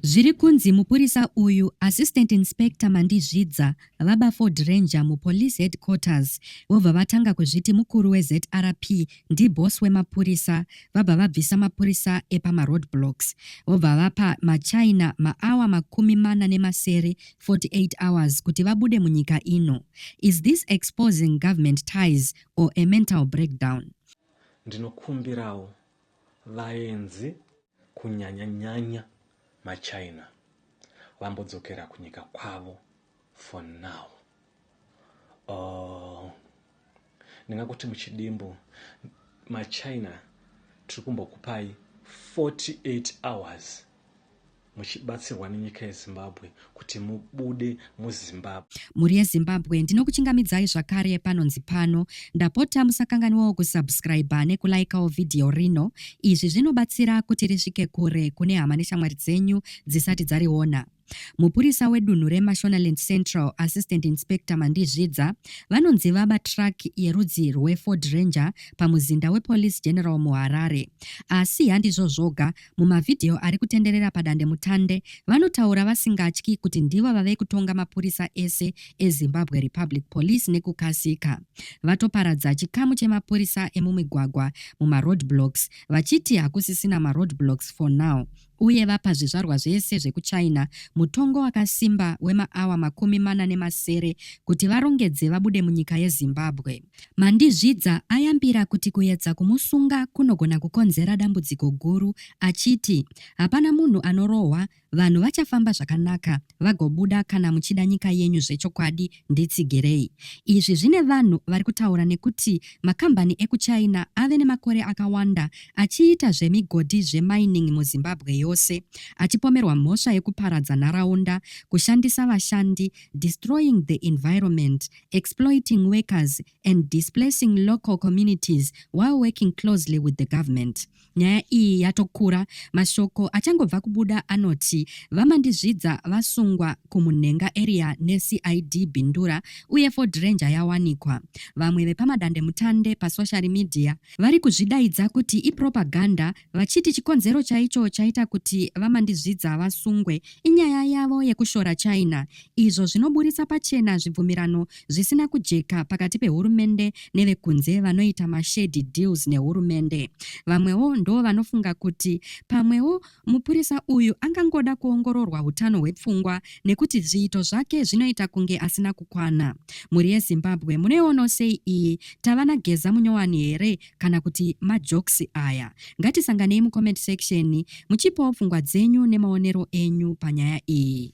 Zviri kunzi mupurisa uyu, Assistant Inspector Mandizvidza, vaba Ford Ranger muPolice Headquarters vobva vatanga kuzviti mukuru weZRP ndiboss wemapurisa vabva vabvisa mapurisa epamaroadblocks vobva vapa maChina maawa makumi mana nemasere 48 hours kuti vabude munyika ino. Is this exposing government ties or a mental breakdown? Ndinokumbirawo Vaenzi, kunyanya-nyanya maChina, vambodzokera kunyika kwavo for now. Or ndingakuti muchidimbu, maChina tiri kumbokupai 48 hours muchibatsirwa nenyika yezimbabwe kuti mubude muzimbabwe mhuri yezimbabwe ndinokuchingamidzai zvakare panonzi pano ndapota musakanganiwawo kusubscribe nekulaikawo vhidhiyo rino izvi zvinobatsira kuti risvike kure kune hama neshamwari dzenyu dzisati dzariona mupurisa wedunhu remashonaland central assistant inspector mandizvidza vanonzi vaba truck yerudzi rweford ranger pamuzinda wepolice general muharare asi handizvo zvoga Mumavhidhiyo ari kutenderera padandemutande, vanotaura vasingatyi kuti ndivo vave kutonga mapurisa ese eZimbabwe Republic Police nekukasika. Vatoparadza chikamu chemapurisa emumigwagwa mumaroad blocks vachiti hakusisina maroad blocks for now uye vapa zvizvarwa zvese zvekuchina mutongo wakasimba wemaawa makumi mana nemasere kuti varongedze vabude munyika yezimbabwe Mandizvidza ayambira kuti kuedza kumusunga kunogona kukonzera dambudziko guru achiti hapana munhu anorohwa, vanhu vachafamba zvakanaka vagobuda kana muchida nyika yenyu zvechokwadi nditsigirei. Izvi zvine vanhu vari kutaura nekuti makambani ekuChina ave nemakore akawanda achiita zvemigodhi zvemining muZimbabwe yose achipomerwa mhosva yekuparadza nharaunda, kushandisa vashandi, destroying the environment exploiting workers and displacing local communities while working closely with the government nyaya iyi yatokura mashoko achangobva kubuda anoti vamandizvidza vasungwa kumunhenga area necid bindura uye ford ranger yawanikwa vamwe vepamadandemutande pasocial media vari kuzvidaidza kuti ipropaganda vachiti chikonzero chaicho chaita kuti VaMandizvidza vasungwe inyaya yavo yekushora China izvo zvinoburitsa pachena zvibvumirano zvisina kujeka pakati pehurumende nevekunze vanoita mashady deals nehurumende. Vamwewo ndo vanofunga kuti pamwewo mupurisa uyu angangoda kuongororwa utano hwepfungwa nekuti zviito zvake zvinoita kunge asina kukwana. Mhuri yeZimbabwe munoiono sei iyi? Tava naGeza Munyowani here kana kuti majokes aya. Ngatisanganei mucomment section muchipawo pfungwa dzenyu nemaonero enyu panyaya iyi.